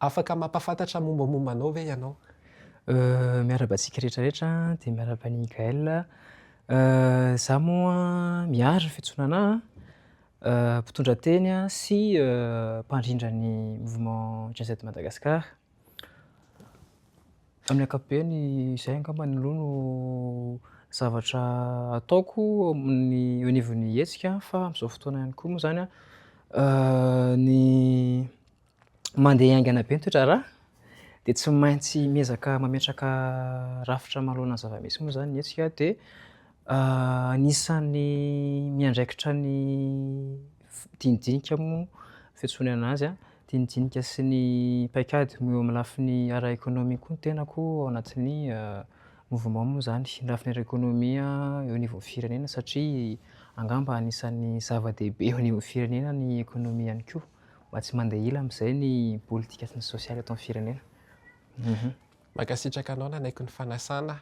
Afaka mampafantatra mombamomba anao ve ianao? Miarahaba antsika rehetra rehetra dia miarahaba an'i Gaël. Izaho moa miaro ny fiantsonana ahy, mpitondra teny sy mpandrindra ny mouvement Gen Z Madagascar. Amin'ny ankapobeny izay angamba aloha no zavatra ataoko amin'ny anivon'ny hetsika fa amin'izao fotoana ihany koa moa izany an ny Mandeha haingana be ny toe-draharaha dia tsy maintsy miezaka mametraka rafitra manoloana ny zava-misy moa izany ny hetsika dia anisan'ny miandraikitra ny dinidinika moa fiantsoana azy, dinidinika sy ny paikady eo amin'ny lafiny ara-ekonomia koa ny tenako ao anatin'ny mouvement moa izany, ny lafiny ara-ekonomia eo anivon'ny firenena satria angamba anisan'ny zava-dehibe eo anivon'ny firenena ny ekonomia ihany koa. mba tsy mandeha ila amin'izay ny politika sy ny sosialy eto amin'ny firenena. Mankasitraka anao nanaiky ny fanasana.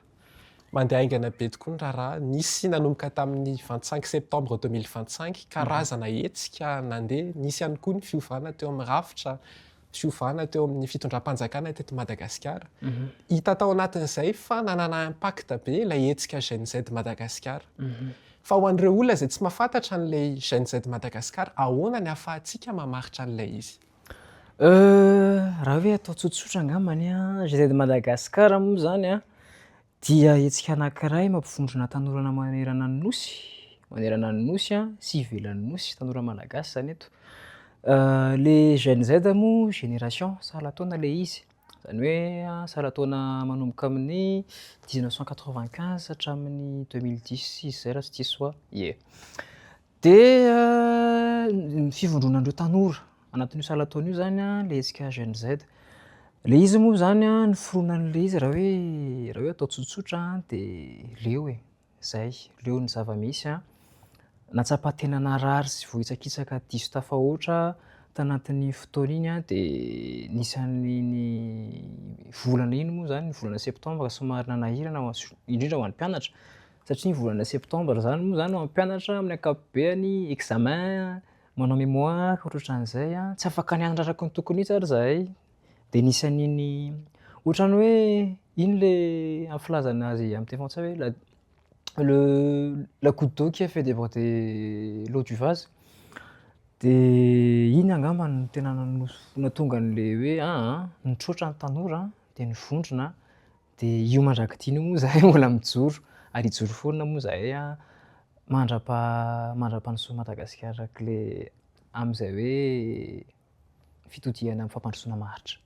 Mandeha haingana be tokoa ny raharaha. Nisy nanomboka tamin'ny vingt cinq septembre deux mille vingt cinq, karazana hetsika nandeha. Nisy ihany koa ny fiovana teo amin'ny rafitra, fiovana teo amin'ny fitondram-panjakana teto Madagasikara. Hita tao anatin'izay fa nanana impact be ilay hetsika GNZ Madagasikara. Fa ho an'ireo olona izay tsy mahafantatra an'ilay Gen Z Madagascar, ahoana ny ahafahantsika mamaritra an'ilay izy? Euh, raha hoe atao tsotsotra angambany an, Gen Z Madagascar moa izany an, dia hetsika anankiray mampivondrona tanorana manerana ny Nosy, manerana ny Nosy an, sy ivelan'ny Nosy, tanora Malagasy izany eto. Euh, le Gen Z moa, génération, sahala taona ilay izy. Izany hoe saran-taona manomboka amin'ny dix-neuf cent quatre-vingt-quinze hatramin'ny deux mille dix izy izay raha tsy diso aho. Ie. Dia ny fivondronan'ireo tanora anatin'io saran-taona io izany an, ilay hetsika Jeunes Z. Ilay izy moa izany an, ny fironan'ilay izy raha hoe raha hoe atao tsotsotra an, dia leo e. Izay, leo ny zava-misy an! Nahatsapa tena narary sy vohitsakitsaka diso tafahoatra tanatin'iny fotoana iny aho dia nisy an'iny volana iny moa izany, ny volana septambra somary nanahirana indrindra ho an'ny mpianatra satria ny volana septambra izany moa izany ho an'ny mpianatra amin'ny ankapobeny examen, manao mémoire, ohatrohatran'izay an! Tsy afaka nianatra araka ny tokony mihitsy ary izahay. dia nisy an'iny ohatran'ny hoe iny ilay amin'ny filazana azy amin'ny teny frantsay hoe la- le la goutte d'eau qui a fait déborder l'eau du vase dia iny angamba no tena nanos- nahatonga an'ilay hoe aa nitroatra ny tanora dia nivondrona dia io mandrak'ity io moa izahay mbola mijoro ary hijoro foana moa izahay mandra-paha- mandra-pahanosin'i Madagasikara amin'ilay amin'izay hoe fitodihana amin'ny fampandrosoana maharitra.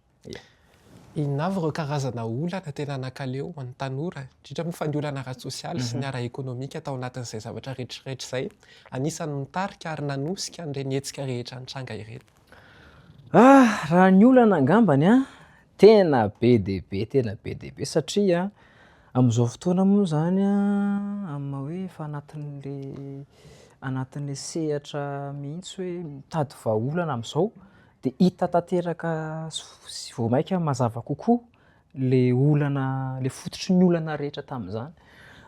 Inona avy ireo karazana olana tena nakaleo ho an'ny tanora, indrindra moa fa ny olana ara-tsosialy sy ny ara-ekonomika tao anatin'izay zavatra rehetrarehetra izay anisan'ny nitarika ary nanosika an'ireny hetsika rehetra nitranga ireny? Raha ny olana angambany Tena be dia be, tena be dia be satria amin'izao fotoana moa izany amin'ny maha hoe efa anatin'ilay anatin'ilay sehatra mihitsy hoe mitady vahaolana amin'izao dia hita tanteraka sy vao mainka mazava kokoa ilay olana, ilay fototry ny olana rehetra tamin'izany.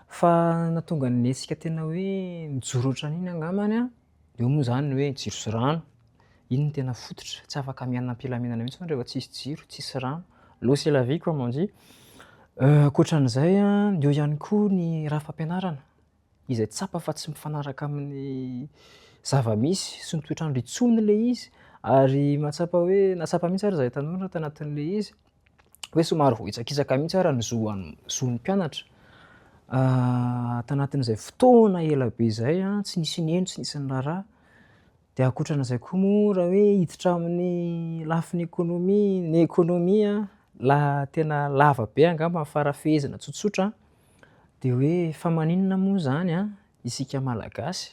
Fa nahatonga ny antsika tena hoe nijoro hatrany iny angambany an! Eo moa izany ny hoe jiro sy rano, iny no tena fototra, tsy afaka miaina am-pilaminana mihitsy rehefa tsisy jiro, tsisy rano. L'eau c'est la vie comme on dit. Ankoatran'izay an, eo ihany koa ny rafi-pampianarana izay tsapa fa tsy mifanaraka amin'ny zava-misy sy ny toetr'andro intsony ilay izy ary mahatsapa hoe, nahatsapa mihitsy ary izahay tanora tanatin'ilay izy, hoe somary voahitsakitsaka mihitsy ara ny zon'ny mpianatra. Ah, tanatin'izay fotoana ela be izay a, ah, tsy nisy nino, tsy nisy niraharaha. Dia ankoatran'izay koa moa raha hoe hiditra amin'ny lafiny ekonomia, ny ekonomia ah, la tena lava be angamba ny farafehezana tsotsotra, dia hoe fa maninona moa izany a, isika malagasy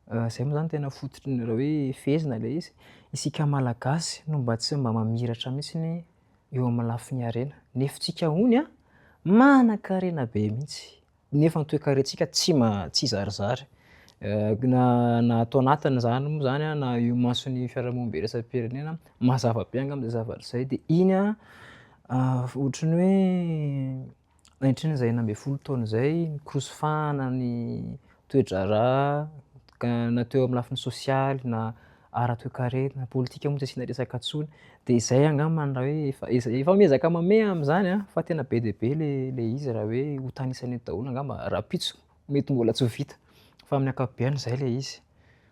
Izay moa zany tena fototry ny raha hoe fehezina ilay izy. Isika Malagasy no mba tsy mba mamiratra mihitsy eo amin'ny lafiny harena. Nefintsika hono an, manan-karena be mihitsy, nefa ny toekarentsika tsy tsy zarizary. Na ato anatiny izany moa izany an, na eo imason'ny fiarahamonina iraisam-pirenena, mazava be angamba izay zavatra izay. Dia iny an, ohatry ny hoe, Nandritra izay enina ambin'ny folo taona izay, nikorosofahana ny toe-draharaha ka na teo amin'ny lafiny sosialy na ara-toekarena na politika moa tsy asiana resaka intsony. Dia izay angamba no raha hoe efa efa efa miezaka mamehy amin'izany an, fa tena be dia be le le izy raha hoe ho tanisaina eto daholo angamba rahampitso mety mbola tsy ho vita fa amin'ny ankapobeny izay le izy.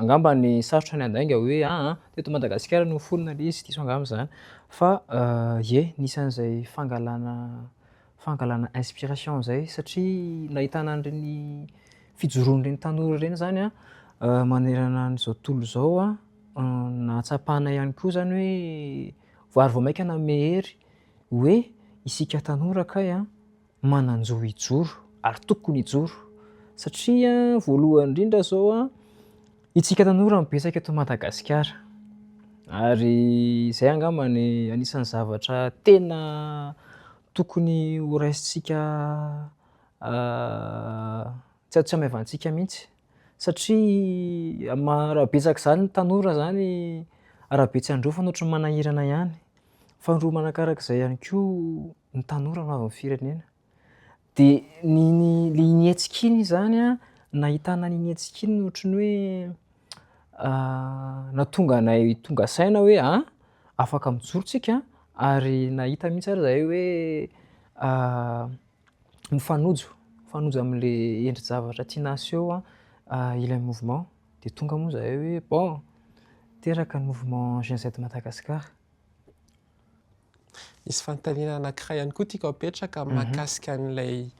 Angamba ny sarotra ny handainga hoe aa teto Madagasikara no niforona ilay izy, diso angamba izany fa ie nisy an'izay fangalana fangalana inspiration izay satria nahitana an'ireny fijoroan'ireny tanora ireny izany manerana an'izao tontolo izao nahatsapanay ihany koa izany hoe ary vao mainka nanome hery hoe isika tanora kay a. manan-jo hijoro ary tokony hijoro satria voalohany indrindra zao a itsika tanora no betsaka eto Madagasikara ary izay angamba ny anisan'ny zavatra tena tokony ho raisintsika tsy tsy hamaivantsika mihitsy satria ma- raha betsaka izany ny tanora izany arabe tsy handrofa no ohatry ny manahirana ihany, faharoa manakarak'izay ihany koa ny tanora no avin'ny firenena. Dia ny ny le iny hetsika iny izany a, nahitana an'iny hetsika iny ohatry ny hoe natonga anay tonga saina hoe a afaka mijoro tsika ary nahita mihitsy ary zahay hoe mifanojo, mifanojo am'le endri-javatra tiana aseho ilay mouvement. Dia tonga moa zahay hoe bon, teraka ny mouvement Gen Z Madagascar. Misy fanontaniana anankiray ihany koa tiako apetraka mahakasika an'ilay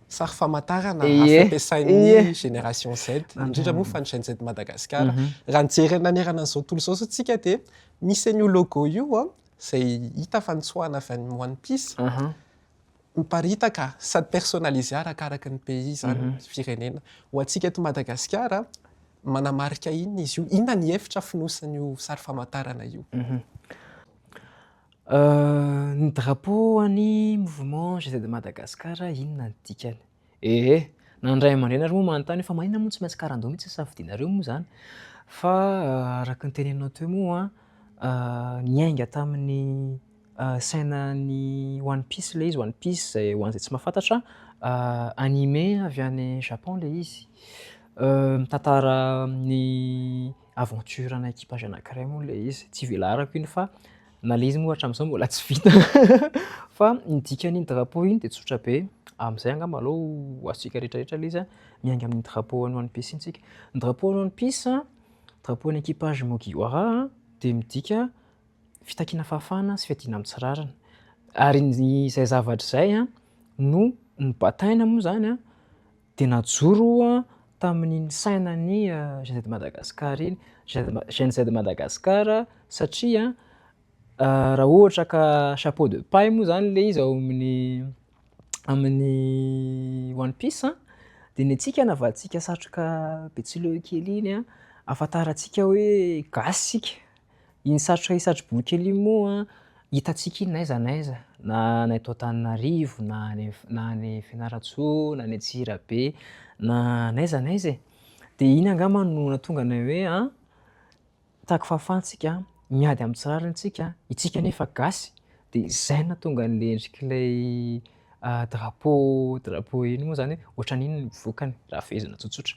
sary famantarana hafa ampiasain'ny génération Z, indrindra moa fa ny Gen Z Madagasikara. Raha ny jery nanerana an'izao tontolo izao isika dia misy an'io logo io izay hita fa notsoahina avy any One Piece. Hoparitaka sady personnalisé arakaraky ny pays izany, firenena. Ho antsika eto Madagasikara, manamarika inona izy io? Inona ny hevitra afonosin'io sary famantarana io? Ny drapeau an'ny mouvement GZMadagascar inona ny dikany? Ee, na ny ray aman-dreny ary moa manontany hoe fa maninona moa tsy maintsy karandoha mihitsy ny safidianareo moa izany? Fa araka ny teneninao teo moa niainga tamin'ny sainan'ny One Piece ilay izy, One Piece izay ho an'izay tsy mahafantatra anime avy any Japon ilay izy. Mitantara ny aventure ana equipage anankiray moa ilay izy, tsy velarako iny fa Na le izy moa hatramin'izao mbola tsy vita fa ny dikan'iny drapeau iny dia tsotra be, amin'izay angamba aleo ho azontsika rehetrarehetra le izy a, miainga amin'ny drapeau an'ny one piece iny tsika. Ny drapeau an'ny one piece a, drapeau an'ny equipage Mugiwara a, dia midika fitakiana fahafahana sy fiadiana amin'ny tsy rariny, ary ny izay zavatra izay a no nobataina moa izany a, dia najoro tamin'iny sainan'ny Jeunes de Madagascar iny, Jeunes de Madagascar satria raha ohatra ka chapeau de paille moa zany le izy ao amin'ny amin'ny one piece dia ny antsika navadintsika satroka betsileho kely iny ahafantarantsika hoe gasy isika. Iny satroka iny satro-boky iny moa hitantsika iny n'aiza n'aiza, na any eto Antananarivo, na any na any Fianarantsoa, na any Antsirabe, na n'aiza n'aiza e. Dia iny angamba no nahatonga anay hoe an, taky fahafahantsika, miady amin'ny tsy rariny isika, isika anefa gasy, dia izay no nahatonga an'ilay endrik'ilay drapeau drapeau iny moa izany hoe ohatran'inona no vokany, raha fehezina tsotsotra.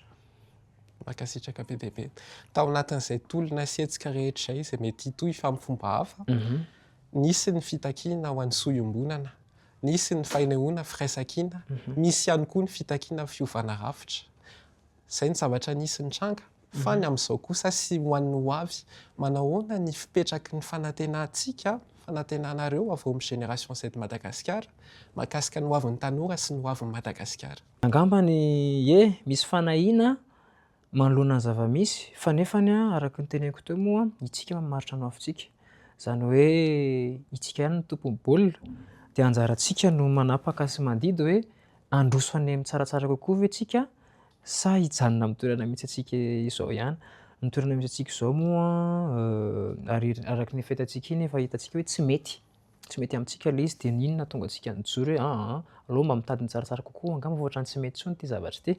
Mankasitraka be dia be. Tao anatin'izay tolona sy hetsika rehetra izay, izay mety hitohy fa amin'ny fomba hafa, nisy ny fitakiana ho an'ny soa iombonana, nisy ny fanehoana firaisankina, nisy ihany koa ny fitakiana fiovana rafitra. Izay ny zavatra nisy nitranga. Fa ny amin'izao kosa sy ho an'ny ho avy, manahoana ny fipetraky ny fanantenantsika, fanantenanareo avy ao amin'ny Génération Z Madagasikara, mahakasika ny ho avin'ny tanora sy ny ho avin'i Madagasikara? Angamba ny ie misy fanahiana manoloana ny zava-misy, fa nefany araka ny teneniko teo moa, itsika mamaritra ny hoavintsika. Izany hoe itsika ihany no tompon'ny baolina, dia anjarantsika no manapaka sy mandidy hoe handroso any amin'ny tsaratsara kokoa ve tsika sa hijanona amin'ny toerana misy antsika izao ihany. Ny toerana misy antsika izao moa, araka ny efa hitantsika iny, efa hitantsika hoe tsy mety. Tsy mety amintsika ilay izy dia ny inona hahatonga antsika nijoro hoe aa aleo mba mitady ny tsaratsara kokoa angamba fa ohatran'ny tsy mety intsony ity zavatra ity.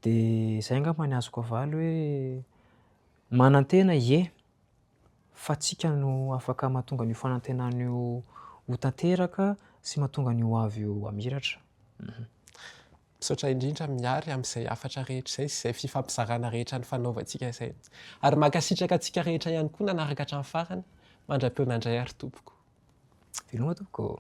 Dia izay angamba ny azoko avaly hoe manantena ie fa tsika no afaka mahatonga an'io fanantenana io ho tanteraka sy mahatonga ny ho avy io hamiratra. Misaotra indrindra Mihary amin'izay hafatra rehetra izay sy izay fifampizarana rehetra nifanaovantsika izay. Ary mankasitraka antsika rehetra ihany koa nanaraka hatramin'ny farany. Mandra-peo nandray ary tompoko. Veloma tompoko ô!